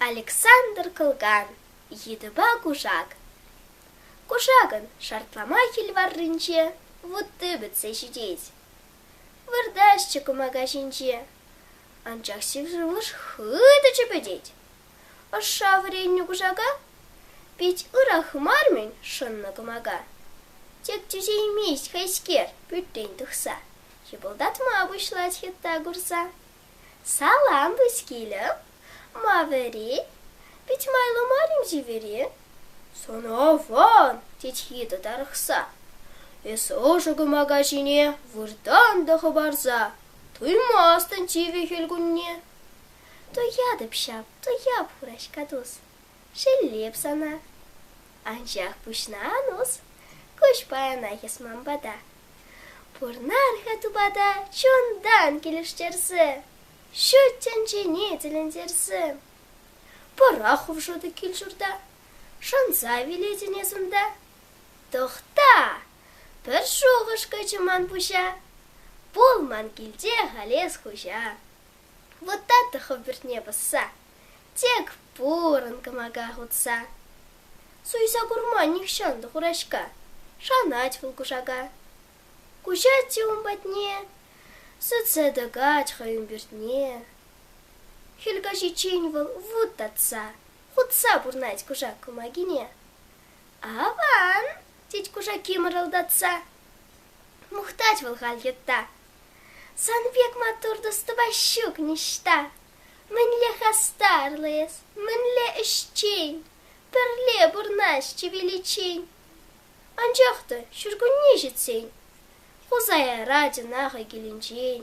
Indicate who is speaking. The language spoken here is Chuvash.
Speaker 1: Александр Кылган йытӑпа кушак. Кушакӑн шартлама кил варринче вутти пӗтсе ҫитет. Выртаҫҫӗ кӑмака ҫинче, анчах сив шывлӑш хытӑ чӗпӗтет. Ӑшша вӗреннӗ кушака пит ырах мар-мӗн шӑннӑ кӑмака. Тек тӳсеймест хайскер пӳртрен тухса. Хыпӑлтатма пуҫлать хытта курса. Салам, пускилӗм, ма вӗри? Пит майлӑ марим чевери? Сӑнаван, тет хитӑ тарӑхса. Эсӗ ӑшӑ кӑмака ҫине выртан та хӑпарса туймастӑн чивӗ хӗл кунне. Туятӑп ҫав, туяп, хураҫка тус, шеллеп сана. Анчах пуҫна анус, куҫ паянах эс ман пата. Пурнар-ха тупата чунтан килӗштерсе, ҫут тӗнчене тӗлӗнтерсе. Пӑра хушӑтӑ кил-ҫурта, шанса вилетӗн эс унта. Тӑхта, пӗр шухӑш кӑчӗ ман пуҫа, пул ман килте халес хуҫа. Вот та тӑхӑ пӳртне пӑсса. Тек пурӑн кӑмака хутса. Суйса курма нихҫан та хураҫка, Шанать вӑл кушака. Куҫать те ун патне, Сӗтсе тӑкать хӑй ӳмпӳртне. Хӗл каҫиччен вӑл вут татса, Хутса пурнать кушак кӑмакине. Аван, тет кушаки мӑрӑлтатса. Мухтать вӑл халь йытта. Сан пек маттур тӑстӑпа ҫук ниҫта. Мӗнле хастарлӑ эс, мӗнле ӗҫчен, пӗрле пурӑнаҫҫӗ виличчен. Анчах та ҫуркунне ҫитсен Хусая Радина хӑй килӗнчен.